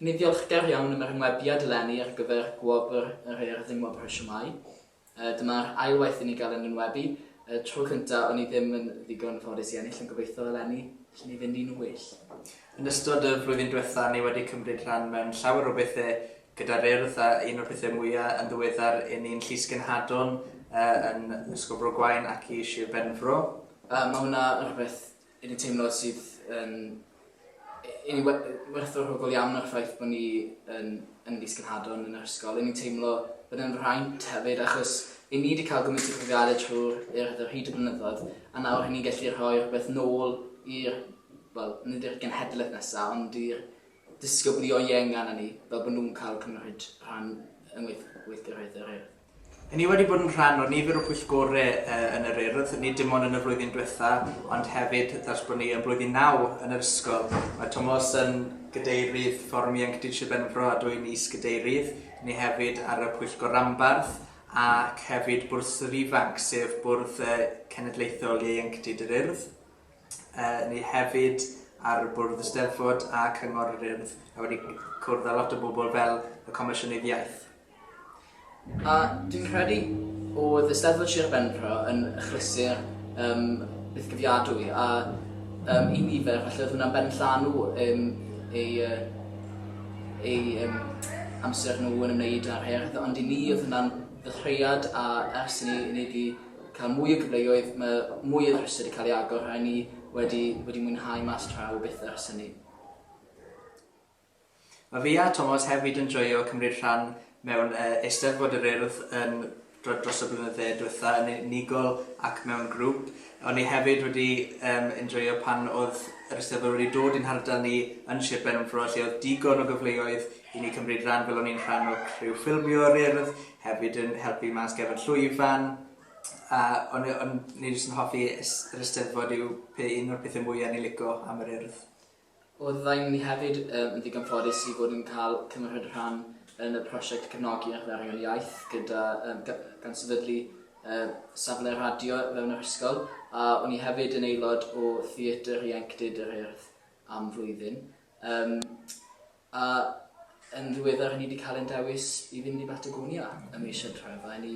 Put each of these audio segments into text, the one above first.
Ni ddiolchgar iawn am yr enwebiad eleni ar gyfer gwobr yr Urdd dim wobr y siomai. Dyma'r ail waith i ni gael ein enwebu. Y tro cyntaf o'n i ddim yn ddigon ffodus i ennill ond gobeithio eleni allen ni fynd i'n well. Yn ystod y flwyddyn diwetha ni wedi cymryd rhan mewn llawer o bethe gyda'r Urdd a un o'r pethe mwya yn ddiweddar i ni'n Llysgenhadon yn Ysgol Bro Gwaun ac i Shir Benfro. Mae hwnna yn rhywbeth Yn y teimlad sydd yn yn werthfawr hwbl iawn o'r ffaith bod ni yn, yn fis Gynhadon yn yr ysgol. Yn ni'n teimlo bod yn rhaint hefyd achos i ni wedi cael gymaint o profiadau trwy'r hyd y blynyddoedd a nawr hynny'n gallu rhoi rhywbeth nôl i'r, wel, nid i'r genhedlaeth nesaf ond i'r disgyblion ienga na ni fel bod nhw'n cael cymryd rhan yn weithgareddau rhaid. Ry' ni wedi bod yn rhan o nifer o pwyllgore yn yr Urdd, nid dim ond yn y flwyddyn dwetha, ond hefyd ers bod ni yn blwyddyn naw yn yr ysgol. Mae Tomos yn Gadeirydd Fforwm Ieuenctid Sir Benfro a dwi'n Is-Gadeirydd. Ry' ni hefyd ar y Pwyllgor Ranbarth ac hefyd Bwrdd yr Ifanc, sef bwrdd cenedlaethol ieuenctid yr Urdd. Ry' ni hefyd ar y Bwrdd Eisteddfod a Cyngor yr Urdd a wedi cwrdd â lot o bobl fel y Comisiynydd Iaith. A dwi'n credu o'dd Eisteddfod Sir Benfro yn achlysur yym bythgofiadwy a yym i nifer falle o'dd hwnna'n benllanw yym eu yy eu yym amser nhw yn ymwneud â'r haearn ond i ni o'dd hwnna'n ddechreuad a ers i ni i ni 'di ca'l mwy o gyfleoedd ma' mwy o ddryse 'di ca'l ei agor a 'yn ni wedi wedi mwynhau mas draw byth ers hynny. Mae fi a Tomos hefyd yn joio cymryd rhan mewn Eisteddfod yr Urdd yn dros y blynydde diwetha, yn unigol ac mewn grŵp. O'n i hefyd wedi enjoio pan oedd yr Eisteddfod wedi dod i'n hardal ni yn Sir Benfro lle oedd digon o gyfleoedd i ni cymryd rhan fel o'n i'n rhan o criw ffilmio yr Urdd, hefyd yn helpu mas gefn llwyfan a o'n i jyst yn hoffi yr Eisteddfod yw un o'r pethau mwya' o'n i'n lico am yr Urdd. Oeddem ni hefyd yn ddigon ffodus i fod yn cael cymryd rhan yn y prosiect Cefnogi a Chyflawni'r Iaith gyda, gan sefydlu safle radio fewn yr ysgol, a o'n i hefyd yn aelod o Theatr Ieuenctid yr Urdd am flwyddyn. A yn ddiweddar hynny wedi cael ein dewis i fynd i Batagonia ym mis Hydref a 'yn ni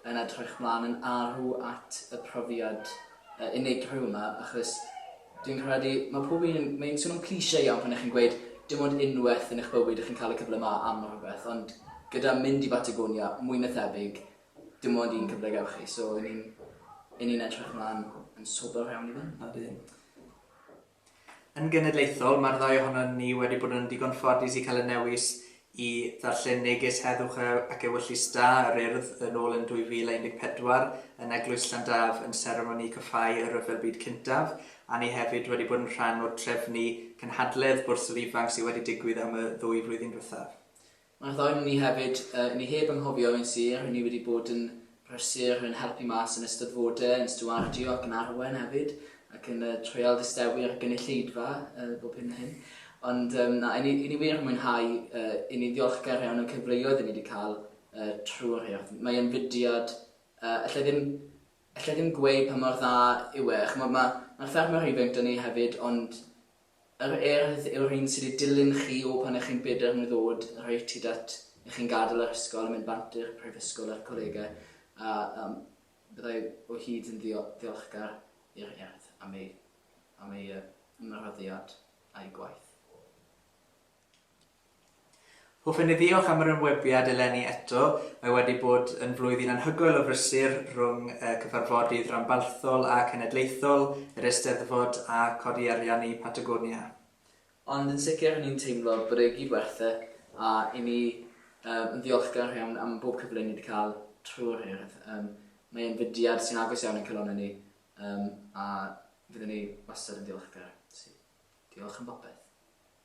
yn edrych 'mlaen yn arw at y profiad yy unigryw yma achos dwi'n credu mae pob un, mae'n swnio'n cliché iawn pan 'ych chi'n gweud dim ond unwaith yn eich bywyd 'ych chi'n cael y cyfle 'ma am rhywbeth ond gyda mynd i Batagonia mwy na thebyg dim ond un cyfle gewch chi so 'yn ni'n 'yn ni'n edrych 'mlaen yn sobor iawn i fynd. Ydyn. Yn genedlaethol, mae'r ddau ohonon ni wedi bod yn ddigon ffodus i cael y newis i ddarllen neges heddwch ac ewyllys da yr Urdd yn ôl yn 2014 yn Eglwys Llandaf yn seremoni cyffáu y Rhyfel Byd Cyntaf, a ni hefyd wedi bod yn rhan o'r trefnu cynhadledd Bwrs yr Ifanc sydd wedi digwydd am y ddwy flwyddyn diwethaf. Mae'r ddau onon ni hefyd, yy, ni heb anghofio ein sir, ry'n ni wedi bod yn brysur yn helpu mas yn ystod fode, yn stiwardio ac yn arwain hefyd, ac yn yy, treial distewu'r gynulleidfa, yy, bob hyn a hyn. Ond, um, na, i ni, i ni wir yn mwynhau, uh, i ni'n ddiolchgar iawn o'n cyfleoedd i ni wedi cael uh, trwy'r hyrth. Mae e'n fudiad, uh, allai ddim, allai ddim gweud pa mor dda yw e. Mae'r ma, ma ffermwr ifanc dyn ni hefyd, ond Yr Urdd yw'r un sydd i dilyn chi o pan ych chi'n bedair mlwydd oed reit hyd at i chi'n gadael yr ysgol a mynd bant i'r prifysgol a'r colegau, a yym byddai o hyd yn ddiolchgar i'r Urdd am ei ymroddiad a'i gwaith. Hoffen ni ddiolch am yr enwebiad eleni eto, mae wedi bod yn flwyddyn anhygoel o brysur rhwng y cyfarfodydd ranbarthol a cenedlaethol, yr Eisteddfod a codi arian i Patagonia. Ond yn sicr r'yn ni'n teimlo bod e i gyd werth e a i ni yn ddiolchgar iawn am bob cyfle ni wedi cael trwy'r Urdd. Mae e'n fudiad sy'n agos iawn i'n calonnau ni a fyddwn ni wastad yn ddiolchgar. Felly, diolch am bopeth.